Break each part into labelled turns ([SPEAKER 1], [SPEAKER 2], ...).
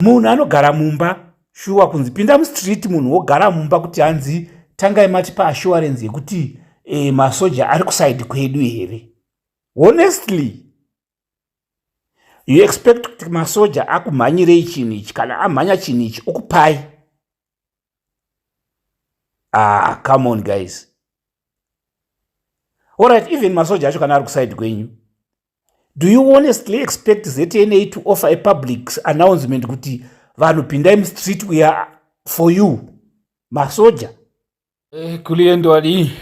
[SPEAKER 1] munhu anogara mumba shuwa kunzi pinda mustreet munhu wogara mumba kuti hanzi tangai matipa assurance yekuti e, masoja ari kusaidi kwedu here honestly you expect kuti masoja akumhanyirei chinhu ichi kana amhanya chinhu ichi okupai ah come on guys allright even masoja acho kana ari kuside kwenyu do you honestly expect zna to offer a public announcement kuti vanhu pindai mustreet uya for you masoja Eh,
[SPEAKER 2] kuliyendwadi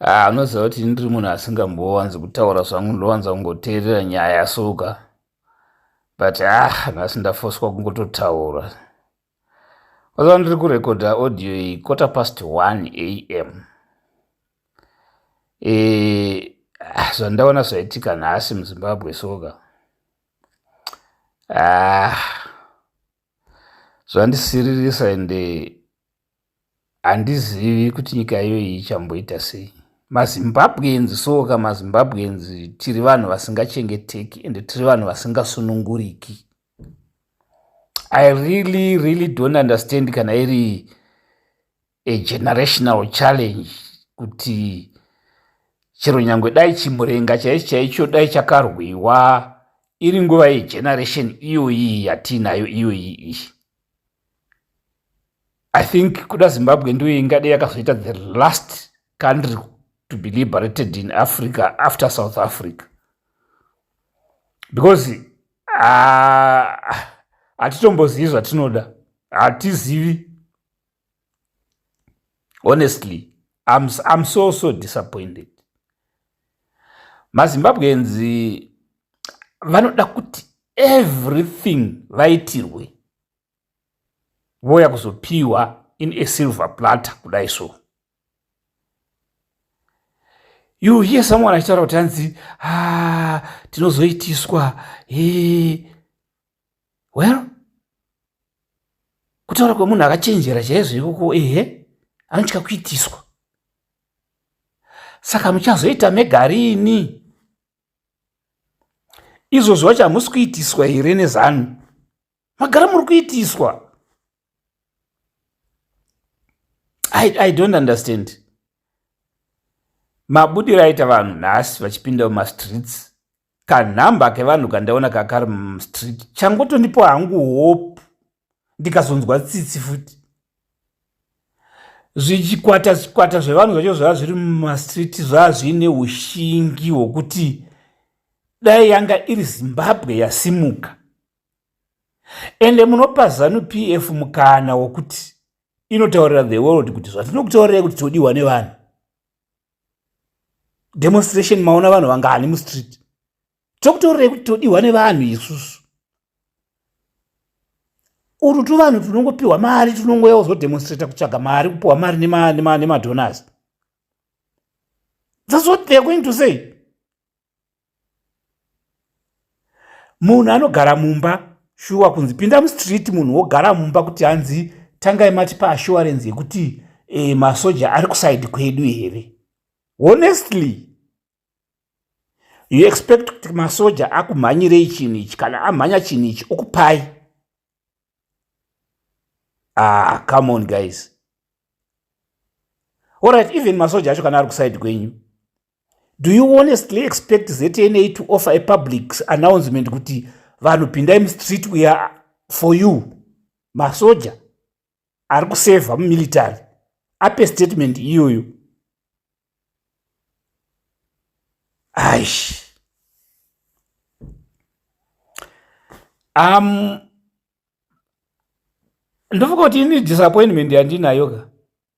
[SPEAKER 2] ah, unoziva kuti ndiri munhu asingambowanzi kutaura zvangu ndowanza kungoteerera nyaya yasuka but ah nhasi ndafoswa kungototaura waziva ndiri kurekodha audio iyi kota past 1 a m e, ah, zvandaona zvaitika nhasi muzimbabwe soka ah, zvandisiririsa ende handizivi kuti nyika iyoyi ichamboita sei mazimbabwenzi soka mazimbabwenzi tiri vanhu vasingachengeteki ende tiri vanhu vasingasununguriki i really really don't understand kana iri a generational challenge kuti chero nyange dai chimurenga chaichi chaicho dai chakarwiwa iri nguva yegeneration iyoyi yatiinayo iyoyi iyi i think kuda zimbabwe ndiyo ingade yakazoita the last country to be liberated in africa after south africa because ah, hatitombozivi uh, zvatinoda hatizivi honestly I'm, I'm so so disappointed mazimbabweans vanoda kuti everything vaitirwe voya kuzopiwa in a silver platter kudai so you hear someone achitaura kuti hanzi ah, tinozoitiswa he well kutaura kwemunhu akachenjera chaizvo ikoko ehe anotya kuitiswa saka muchazoita megarini izvozvo vacho hamusi kuitiswa here nezanu magara muri kuitiswa I, i don't understand mabudiro aita vanhu nhasi vachipinda mumastreets kanhamba kevanhu kandaona kakari mstreet changotondipo hangu hope ndikazonzwa tsitsi futi zvichikwata zvikwata zvevanhu zvacho zvava zviri mumastreet zvava zviine ushingi hwokuti dai yanga iri zimbabwe yasimuka ende munopa zanu p f mukana wokuti inotaurira the world kuti zvatinokutaurirai kuti todiwa nevanhu demonstration maona vanhu vangani mustreet tokutorerei kuti todiwa nevanhu isusu uru tuvanhu tunongopiwa mari tunongoya uzodemonstrata kutsvaga mari kupiwa mari nemadonors thats what theyare going to say munhu anogara mumba shuwa kunzi pinda mustreet munhu wogara mumba kuti hanzi tangai mati paassurance yekuti e, masoja ari kusaidi kwedu here honestly you expect kuti masoja akumhanyirei chinhu ichi kana amhanya chinhu ichi okupai ah come on guys allright even masoja acho kana ari kusaidi kwenyu do you honestly expect zna to offer a public announcement kuti vanhu pindai mustreet we are for you masoja ari kusevha mumilitary ape statement iyoyo aish um ndofunga kuti ini disappointment yandinayo ka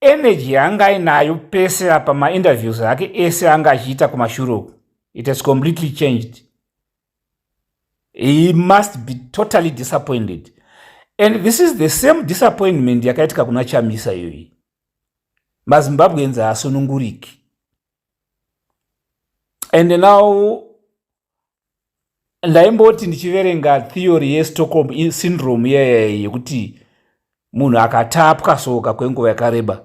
[SPEAKER 2] energy yaanga ainayo pese apa mainterviews ake ese anga achiita kumashure uku it has completely changed he must be totally disappointed and this is the same disappointment yakaitika kuna chamisa iyoyi mazimbabweans haasununguriki and now
[SPEAKER 1] ndaimboti ndichiverenga theory yestockholm syndrome iyayai yekuti munhu akatapwa soka kwenguva yakareba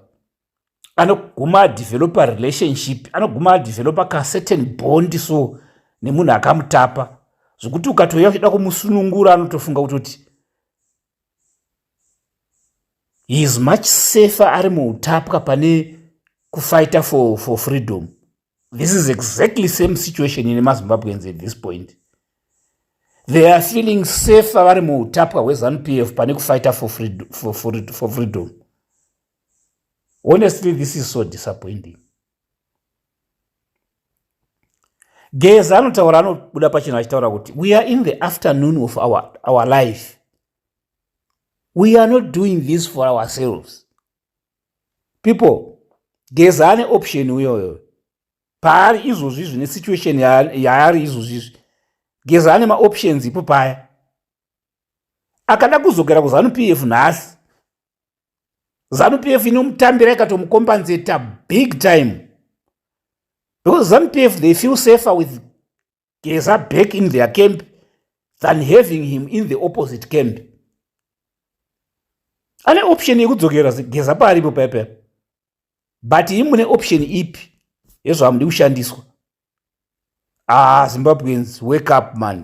[SPEAKER 1] anoguma adevelopa relationship anoguma adevelopa kacertain bond so nemunhu akamutapa zvekuti ukatouya uchida kumusunungura anotofunga kutoti he is much safer ari muutapwa pane kufighter for, for freedom this is exactly same situation ine mazimbabweans at this point they are feeling safer vari muutapwa hwezanup f pane kufighter for, freedom, for, for, for freedom honestly this is so disappointing geza anotaura anobuda pachena achitaura kuti we are in the afternoon of our, our life we are not doing this for ourselves people geza ane option uyoyo paari izvozvi izvi nesituation yaari izvozvi izvi geza ane maoptions ipo paya akada kuzogera kuzanu p f nhasi zanupf inomutambira ikatomukombanzeta big time because zanupf they feel safer with geza back in their camp than having him in the opposite camp ane option yekudzokera geza paaripo pepe but i mune option ipi yezvamudi kushandiswa ah zimbabweans wake up money